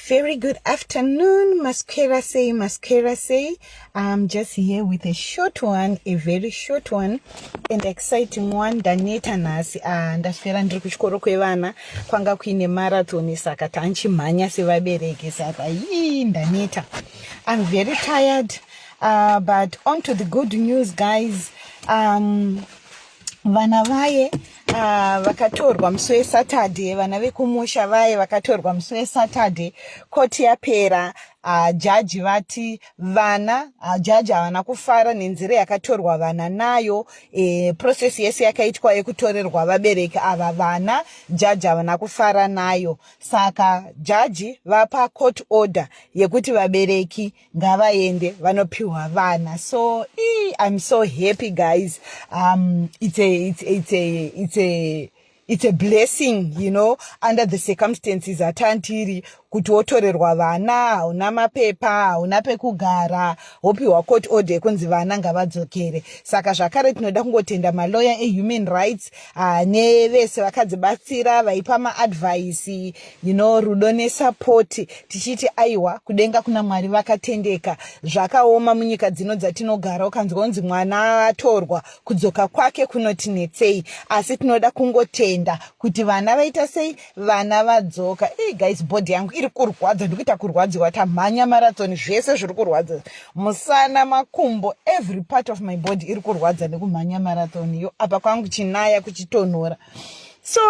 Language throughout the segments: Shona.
Very good afternoon, Masquera say, Masquera say. I'm just here with a short one, a very short one, and exciting one. Daneta nasi, ah, ndaswera ndiri kuchikoro kwevana kwanga kuine marathon saka tanchimhanya sevabereki saka yii ndaneta. I'm very tired, uh, but on to the good news guys. Um, vana vaye uh, vakatorwa musi wesaturday vana vekumusha vaye vakatorwa musi wesaturday koti yapera uh, jaji vati vana uh, jaji havana kufara nenzira yakatorwa vana nayo e, process yese yakaitwa yekutorerwa vabereki ava vana jaji havana kufara nayo saka jaji vapa court order yekuti vabereki ngavaende vanopiwa vana so ee, i'm so happy guys um it's a it's, it's a it's a it's a blessing you know under the circumstances atantiri kuti wotorerwa vana hauna mapepa hauna pekugara wopiwa court order yekunzi vana ngavadzokere saka zvakare tinoda kungotenda maloya ehuman rights ah, nevese vakadzibatsira vaipa maadvhaisi you know rudo nesapoti tichiti aiwa kudenga kuna mwari vakatendeka zvakaoma munyika dzino dzatinogara ukanzwa unzi mwana atorwa kudzoka kwake kunotinetsei asi tinoda kungotenda kuti vana vaita sei vana vadzoka e guys bhodhi yangu iri kurwadza ndikuita kurwadziwa tamhanya marathon zvese zviri kurwadza musana makumbo every part of my body iri kurwadza nekumhanya marathon yo apa kwangu chinaya kuchitonhora so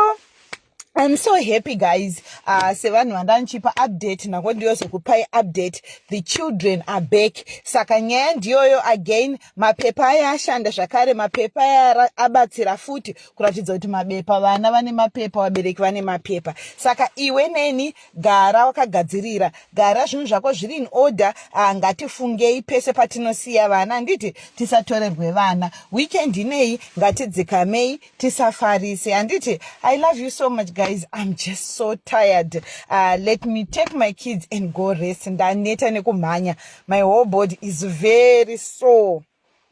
I'm so happy guys uh, sevanhu vandandichipa update nako ndiyozokupai update the children are back saka nyaya ndiyoyo again mapepa aya ashanda zvakare mapepa aya abatsira futi kuratidza kuti mabepa vana vane mapepa vabereki vane mapepa saka iwe neni gara wakagadzirira gara zvinhu zvako zviri in order uh, ngatifungei pese patinosiya vana handiti tisatorerwe vana weekend inei ngatidzikamei tisafarise handiti i love you so much guys i'm just so tired uh, let me take my kids and go rest ndaneta nekumhanya my whole body is very sore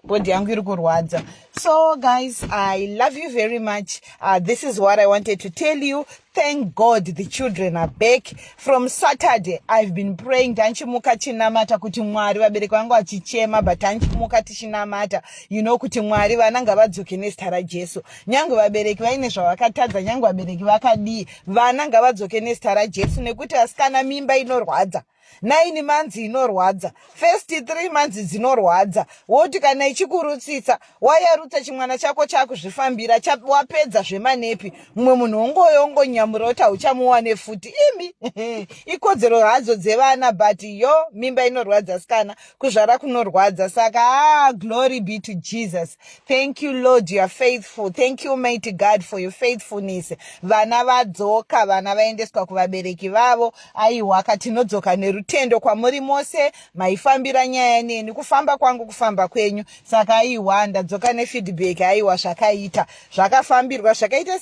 body yangu iri kurwadza so guys i love you very much uh, this is what i wanted to tell you Thank God the children are back. From Saturday I've been praying tanchimuka chinamata kuti Mwari vabereki vangu vachichema but tanchimuka tichinamata you know kuti Mwari vana ngavadzoke nezita raJesu. Nyange vabereki vaine zvavakatadza nyange vabereki vakadii vana ngavadzoke nezita raJesu nekuti asikana mimba inorwadza. nine months inorwadza first three months dzinorwadza woti kana ichikurutsitsa wayarutsa chimwana chako chakuzvifambira wapedza zvemanepi mumwe munhu wongoyo wongonyamura kuti hauchamuwane futi imi ikodzero hadzo dzevana but yo mimba inorwadza sikana kuzvara kunorwadza saka ah, glory be to jesus thank you lord you are faithful thank you mighty god for your faithfulness vana vadzoka vana vaendeswa kuvabereki vavo Aiwa ka tinodzoka nerutendo kwamuri mose maifambira nyaya neni kufamba kwangu kufamba kwenyu saka aiwa ndadzoka nefeedback aiwa zvakaita zvakafambirwa zvakaita